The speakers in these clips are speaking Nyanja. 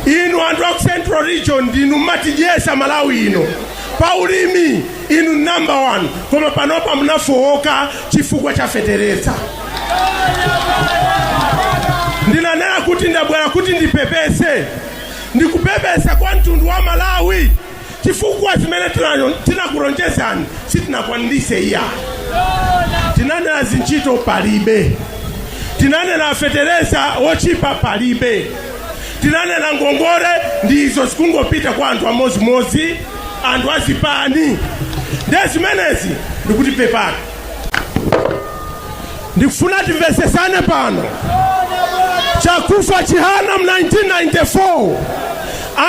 inu anthu aku central region ndinu mmatidyesa malawi ino pa ulimi inu number one koma panopa munafowoka chifukwa cha fetereza ndinanena kuti ndabwera kuti ndipepese ndikupepesa kwa mtundu wa malawi chifukwa zimene tinanyo- tinakulonjezani sitinakwanilise iya tinanena zintchito palibe tinanena fetereza wotchipa palibe tinanena ngongole ndi izo zikungopita kwa anthu amodzimodzi anthu azipani nde zimenezi ndikuti pepani ndikufuna timvesesane pano chakufa chihana mu 1994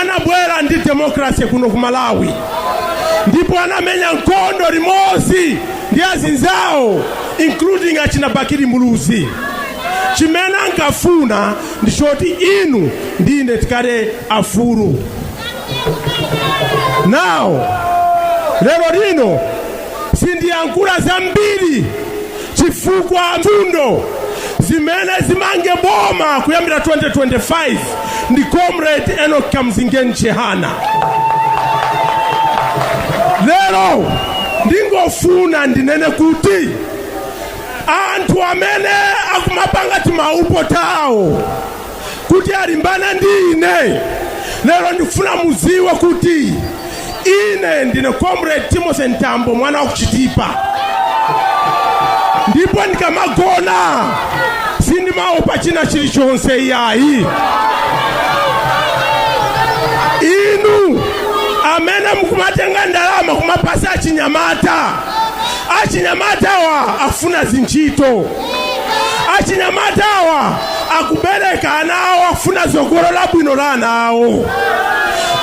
anabwera ndi demokrasi kuno ku malawi ndipo anamenya nkhondo limodzi ndi azinzawo including achina bakili muluzi chimene ankafuna ndi choti inu ndine tikhale afulu now lero lino sindiyankhula zambiri chifukwa mfundo zimene zimange boma kuyambira 2025 ndi comrade enoch kamzingeni chihana lero ndingofuna ndinene kuti anthu amene akumapanga timaupo tawo kuti alimbana ndi ine lero ndifuna muziwe kuti ine ndine comrade timothy mtambo mwana wa kuchitipa ndipo ndikamagona sindimaopa china chilichonse iyayi inu amene mukumatenga ndalama kumapasa achinyamata achinyamatawa afuna zintchito achinyamatawa akubereka ana awo afuna tsogolo labwino la ana awo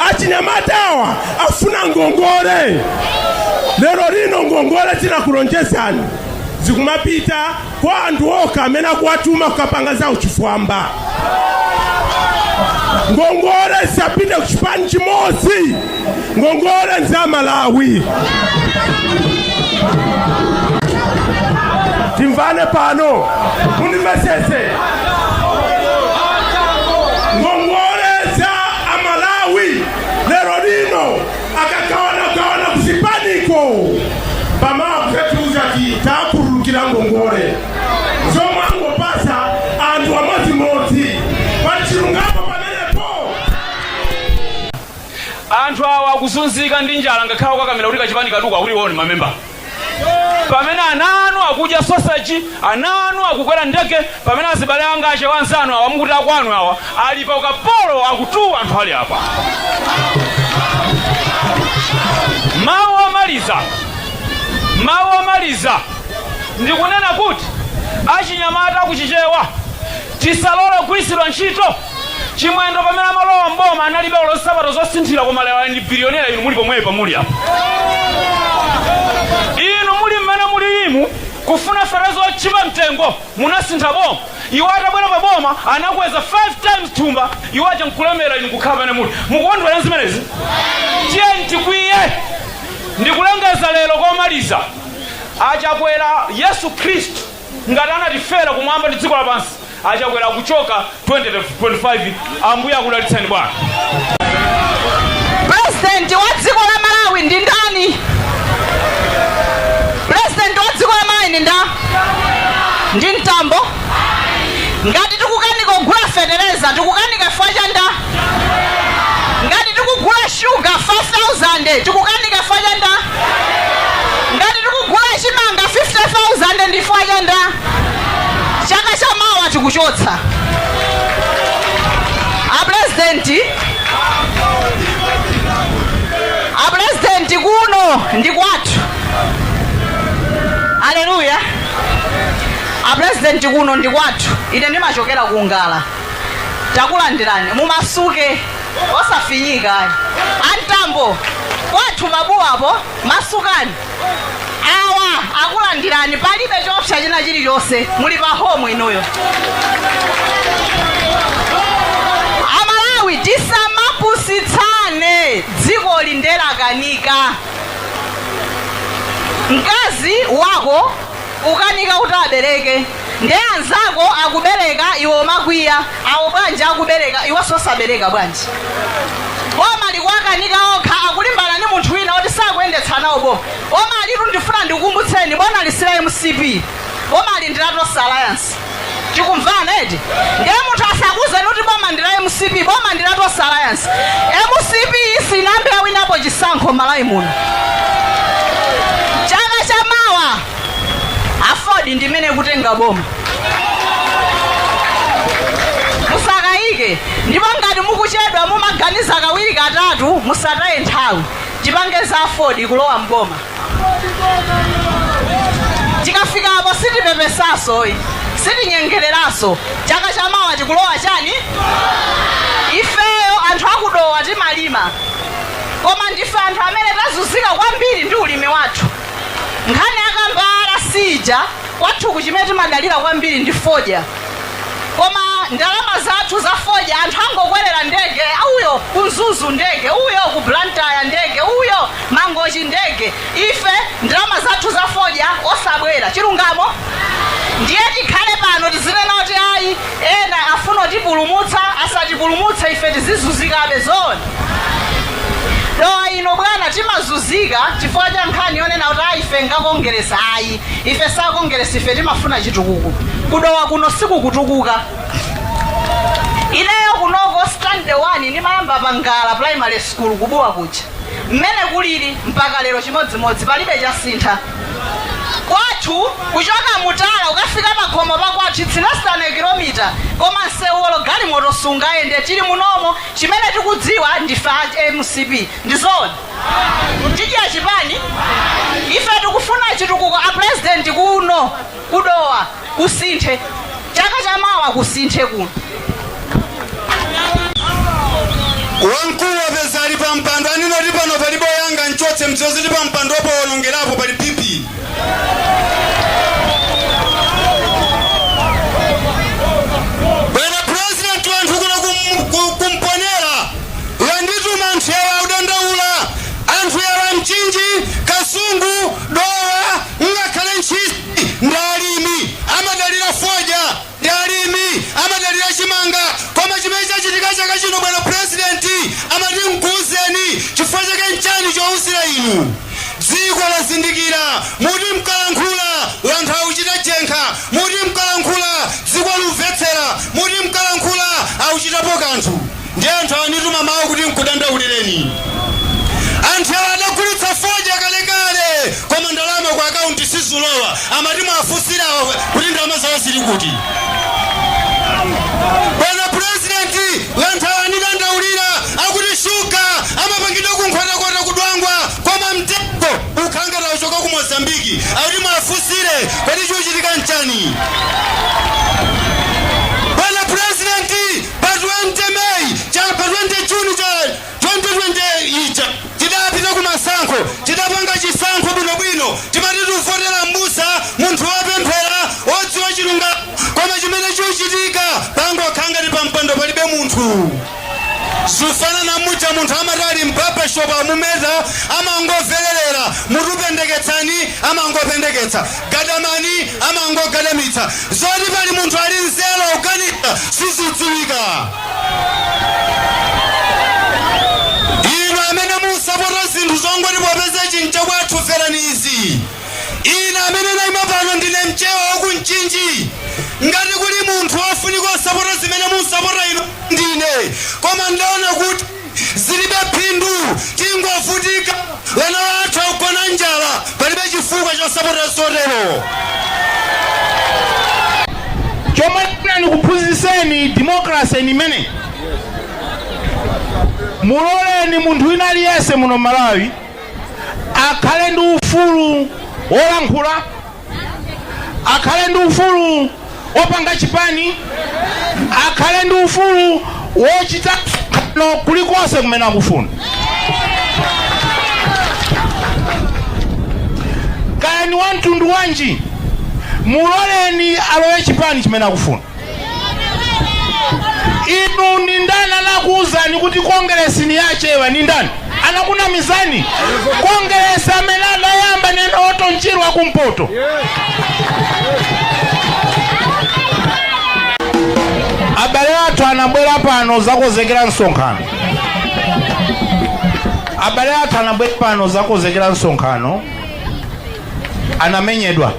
achinyamatawa afuna ngongole lero lino ngongole tinakulonjezani zikumapita kwa anthu okha amene akuwatuma kukapanga za uchifwamba ngongole zisapite ku chipani chimodzi ngongole za malawi timvane pano mundimesese ngongole za amalawi lero lino akagawanagawana kusipaniko pamakutetuza titakurukira ngongole zomwangopasa anthu amodzimodzi pachilungamo Anthu awa akuzunzika ndi njala ngakhale kukakamira kuti kachipani kathuko akuti iwo ndi mamemba. Pamene ana anu akudya soseji, ana anu akukwera ndege, pamene azibale anga achewa anzanu awa mukuti akwanu awa ali pa ukapolo akutuwa anthu ali apa. Mawu omaliza, mawu omaliza ndikunena kuti achinyamata akuchichewa tisalole kugwiritsidwa ntchito Chimwendo pamene amalowa mboma analibe olo nsapato zosinthira koma lero ndi bilionera inu muli pomwepa muli apa. Inu muli mmene muli imu kufuna fetereza otchipa mtengo munasintha boma. Iwo atabwera pa boma anakweza 5 times thumba iwo aja nkulemera inu kukhala pamene muli. Mukukondwera zimenezi? Tiyeni tikwiye ndikulengeza lero komaliza achakwera Yesu Khristu ngati anatifera kumwamba ndi dziko lapansi achakwera akuchoka 2025 ambuye akudalitseni bwana pulezidenti wa dziko la malawi ndi ndani pulezidenti wa dziko la malawi ndi nda ndi mtambo ngati tikukanika kugula fetereza tikukanika chifukwa cha nda ngati tikugula sugar 5000 tikukanika fwa cha nda ngati tikugula chimanga 50000 ndi fwa cha nda chaka cha mawa tikuchotsa apurezidenti apurezidenti kuno ndi kwathu aleluya apurezidenti kuno ndi kwathu ine ndimachokera ku ngala takulandirani mumasuke osafinyika amtambo kwathu pabuwapo masukani awa akulandirani palibe chopsa china chilichonse muli pa homu inuyo amalawi tisamapusitsane dzikoli nde lakanika mkazi wako ukanika kuti abereke nde anzako akubereka iwe umakwiya awo bwanji akubereka iweso osabereka bwanji boma likuwakanika okha akulimbana ndi munthu wina oti sakuyendetsa nawo boma bomalitu ndifuna ndikukumbutseni bomali si la mcp bomali ndi la tonse alliance tikumvana eti ndiye munthu asakuuzeni kuti boma ndi la mcp boma ndi la tonse alliance mcp sinambe yawinapo chisankho malawi muno chaka cha mawa aford ndi imene ikutenga boma musakayike ndipo ngati mukuchedwa mumaganiza kawiri katatu musataye nthawi tipange za aford kulowa mboma tikafika apo sitipepesaso sitinyengereraso chaka chamawa tikulowa chani ifeyo anthu akudowa timalima koma ndife anthu amene tazunzika kwambiri ndi ulimi wathu nkhani akamba rc ija kwathuku chimene timadalira kwambiri ndi fodya koma ndalama zathu za fodya anthu angokwerera ndege uyo ku mzuzu ndege uyo ku blantyre ndege uyo mangochi ndege ife ndalama zathu za fodya osabwera chilungamo ndiye tikhale pano tizinena kuti ayi ena afuna kutipulumutsa asatipulumutse ife tizizuzikabe zoona dowa ino bwana timazuzika chifukwa cha nkhani yonena kuti ayi ife ngakongeresa ayi ife sakongeresa ife timafuna chitukuko kudowa kuno sikukutukuka ineyo kunoko standard one ndimayamba pangala primary school kubuwa kuja mmene kulili mpaka lero chimodzimodzi palibe chasintha Kwathu kuchoka mutala kukafika pakhomo pa kwathu its less than a kilometer koma nsewu olo galimoto sungayende tili munomo chimene tikudziwa ndife a mcp ndi zoona tidzidya chipani ife tikufuna chitukuko a president kuno ku dowa kusinthe chaka cha mawa kusinthe kuno wamkulu wapeza ali pa mpando aninati pano palibe oyanga mchotse mzoziti pa mpando opo wolongerapo pali pipi bwana purezidenti wanthu kuno kum- ku- kumponera wandituma anthu yawa audandaula anthu yawa amchinji kasungu dowa Ngakhale ntchisi ndi alimi amadalira fodya ndi alimi amadalira chimanga koma chimene chachitika chaka chino bwana president amati mkuuzeni chifukwa chake nchani chouzira inu dziko lazindikira muti mkalankhula wanthu auchita jenkha muti mkalankhula dziko liumvetsera muti mkalankhula auchitapo kanthu Ndiye anthu awa andituma mawu kuti nkudandaulireni inu. Anthu awa adagulitsa fodya kalekale koma ndalama ku akaunti sizulowa amati mwafunsire kuti ndalama zawo zili kuti. Bwana purezidenti anthu awa andidandaulira akuti shuga amapangidwa ku nkhotakota ku Dwangwa koma mtengo ukhangati auchoka ku Mozambiki akuti mwafunsire kuti chikuchitika nchani. Pa 20 May pa 20 June 2020 ija tidapita ku masankho tidapanga chisankho bwinobwino timati tuvotera m'busa munthu wopemphera odziwa chilungamo koma chimene chuchitika pangokhala ngati pa mpando palibe munthu zufanana muja munthu amati ali mbabashopu amumeta amangovererera mutupendeketsani amangopendeketsa Gadamani amangogadamitsa zoti pali munthu ali nzeru akuganiza sizidziwika. Inu amene musapota zinthu zongoti popeza ichi nchakwathu mverani izi. Ine amene naima pano ndine mchewa wa ku Mchinji. Ngati kuli munthu wofunika osapota zimene musapota inu ndine. Koma ndaona kuti zilibe phindu tingovutika wana wathu akugona njala palibe chifukwa chosapotera zotero chomwe tifuna nikuphunzitseni democracy ni imene muloleni munthu wina aliyense muno malawi akhale ndi ufulu wolankhula akhale ndi ufulu wopanga chipani akhale ndi ufulu woyenda kulikonse kumene akufuna kaya ni wamtundu wanji muloleni alowe chipani chimene akufuna inu ni ndani anakuuzani kuti kongeresi ni yachewa ni ndani anakunamizani kongeresi amene anayamba ni Orton Chirwa wa kumpoto abale athu anabwera pano zakozekera msonkhano abale athu anabwera pano zakozekera msonkhano anamenyedwa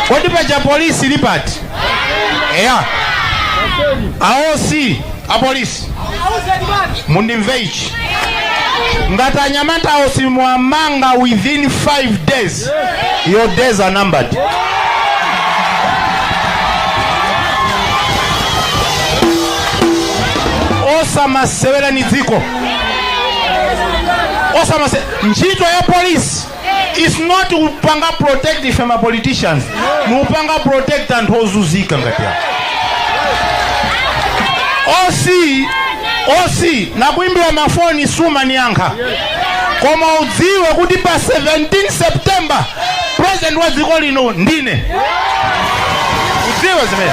kodi paja polisi ili pati eya a OC apolisi mundimve ichi ngati anyamata a OC mwamanga within 5 days your days are numbered osamasewera ni dziko osamase ntchito ya polisi is not kupanga protect ife ma politicians nikupanga protect anthu ozuzika ngati awo OC OC nakuimbira mafoni sumaniyankha koma udziwe kuti pa 17 september president wa dziko lino ndine udziwe zimene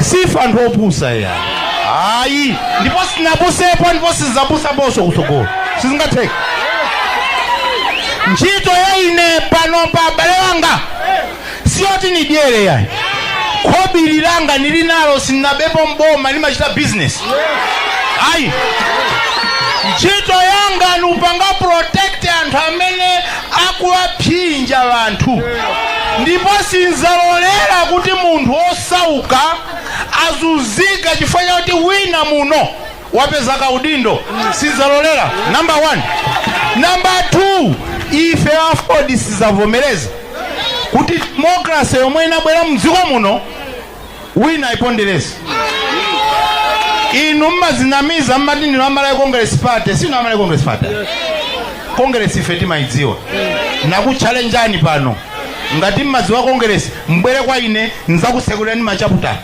sife anthu opusa iyayi ayi ndipo sinapusepo ndipo sizapusaponso kutsogolo sizingatheke ntchito ya ine pano abale wanga siyoti nidyere iyayi khobiri langa nili nalo sinabepo mboma nimachita bizinesi ayi ntchito yanga nupanga protect anthu amene akuwaphinja anthu ndipo sinzalolera kuti munthu osauka azunzika chifukwa chakuti wina muno wapeza kaudindo sinzalolera namba 1 namba 2 ife aford sizavomereza kuti demokrasi yomwe inabwera mdziko muno wina aipondereze inu mmazinamiza mmati ndinu a Malawi Congress Party si inu a Malawi Congress Party congress ife timayidziwa nakuchalenjani pano ngati mmadziwa congress mbwere kwa ine nzakutsekulireni machaputa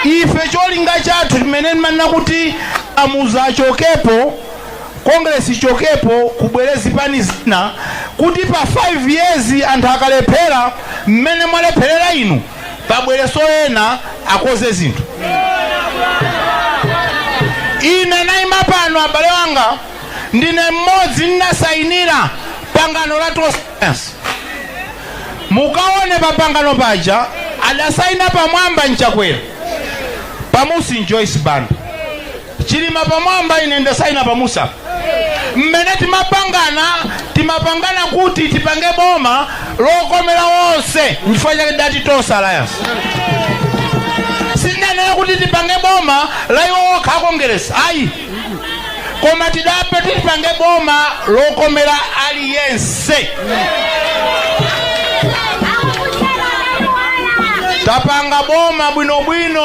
ife cholinga chathu chimene timanena kuti amuuze achokepo Congress ichokepo kubwere zipani zina kuti pa 5 years anthu akalephera mmene mwalepherera inu pabwereso ena akoze zinthu ine naima pano abale wanga ndine mmodzi ndinasayinira pangano la Tonse Alliance mukaone pa pangano paja adasayina pamwamba ndi Chakwera pamunsi Joyce Banda chilima pamwamba ine ndasaina pamunsi mmene timapangana timapangana kuti tipange boma lokomera onse nchifukwa chake tidati tonse alliance sindanena kuti tipange boma la iwo okha akongeresi ayi koma tidati tipange boma lokomera aliyense tapanga boma bwinobwino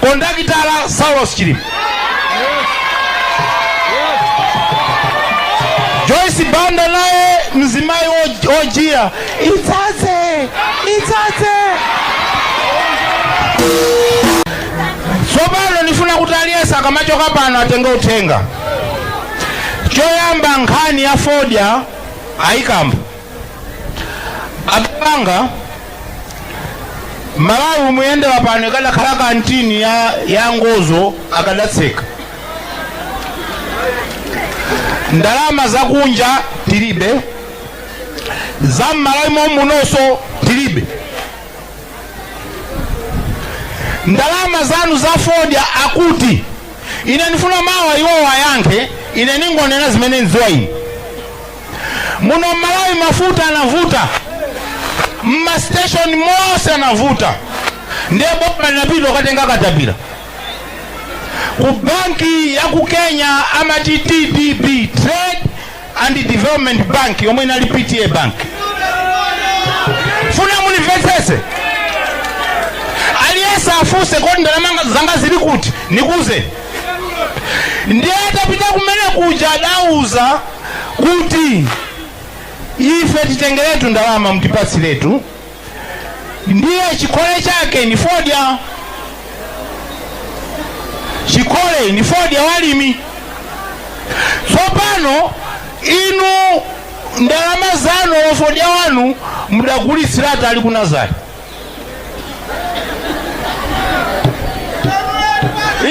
kondakitala saulos chilima joyce banda naye mzimayi wojiya idzadze idzadze tsopano ndifuna kuti aliyense akamachoka pano atenge uthenga choyamba nkhani ya fodya ayikamba abale anga malawi mmene ayendera pano ikadakhala kantini ya, ya ngozo akadatseka ndalama zakunja tilibe za mmalawi momunonso tilibe ndalama zanu za fodya akuti ine ndifuna mawa iwo wayankhe ine ningonena zimene ndidziwa ine muno mmalawi mafuta anavuta mmasteshoni monse anavuta ndiye boma linapita kukatenga katapira ku banki ya ku kenya amati tdb trade and development bank yomwe inali pta bank ndifuna mundimvetsetse aliyense afunse kodi ndalama zanga zili kuti nikuuzeni ndiye atapita kumene kuja adauza kuti ife titengeretu ndalama mtipatsiretu ndiye chikole chake ni fodya chikole ni fodya walimi tsopano inu ndalama zanu ofodya wanu mudagulitsiratu ali ku nazari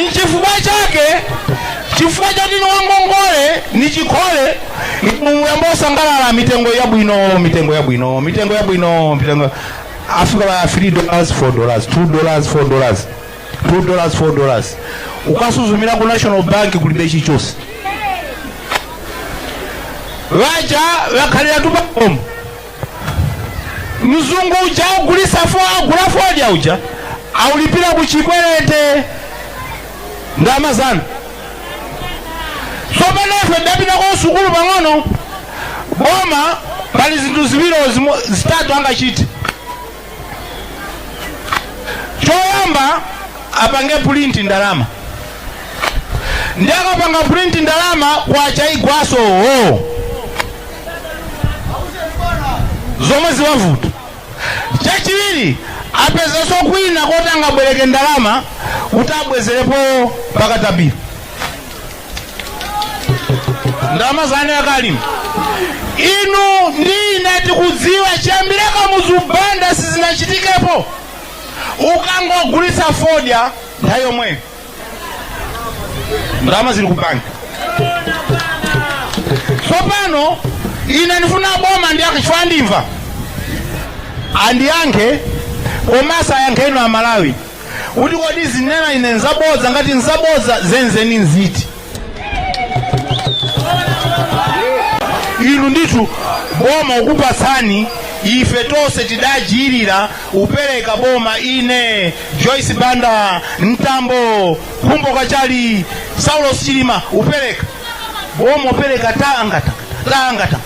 nchifukwa chake chifukwa choti ni wangongole ni chikole muyamba osangalala mitengo yabwino mitengo yabwino mitengo yabwino mitengo afika pa 3 dollars 4 dollars 2 dollars 4 dollars 2 dollars 4 dollars ukasuzumira ku national bank kulibe chichose vaja vakhalira tupakomo mzungu uja augulisa fo agula fodya uja aulipira ku chikwerete ndalama zanu tsopano ife tidapita ku sukulu pang'ono boma pali zinthu ziwiri zimo- zitatu angachite choyamba apange pulinti ndalama ndiye akapanga pulinti ndalama kwacha igwaso wo zomwe ziwavuta chachiwiri apezeso kwina koti angabwereke ndalama kuti abwezerepo pa Katapira ndalama zanu ya alimi inu ndiye tikudziwa chiyambire kamuzu banda sizinachitikepo ukangogulitsa fodya nthawi yomweyo ndalama zili ku banki tsopano ine ndifuna boma ndiye akachita ndimva andiyankhe komanso ayankhe inu a malawi kuti kodi zinena ine nzabodza ngati nzabodza zenzeni nziti inu ndithu boma ukupatsani ife tonse tidagwirira upereka boma ine joyce banda mtambo khumbo kachali saulos chilima upereka boma upereka tanga tanga tanga tanga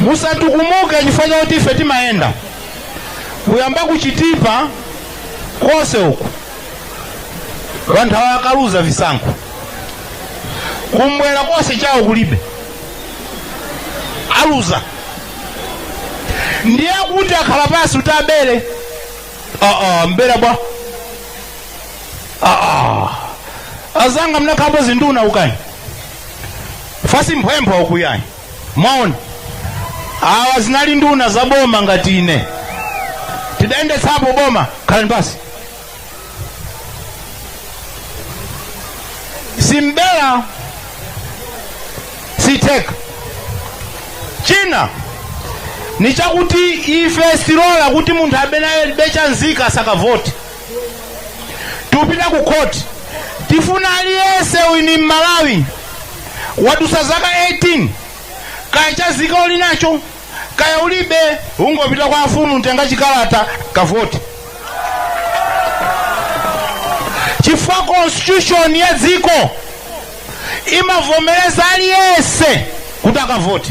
musatukumuke chifukwa chakuti ife timayenda kuyamba kuchitipa konse uku vanthu awa akaluza visankho kumbwera konse chawo kulibe aluza ndiye kuti akhala pansi kuti abere aa abera bwa aa azanga mnakhapo zinduna ukani fasi mphwemphwa ukuyayi mwaona awa zinali nduna za boma ngati ine tidayendetsapo boma khalani pasi simbela sitheka china ndi chakuti ife sitilola kuti munthu amene alibe cha nzika asakavote tikupita ku khoti tifuna aliyense ndi mmalawi wadusa zaka 18 kaya cha nzika uli nacho kaya ulibe ungopita kwa afumu kutenga chikalata kavote chifukwa constitution ya dziko imavomereza aliyense kuti akavote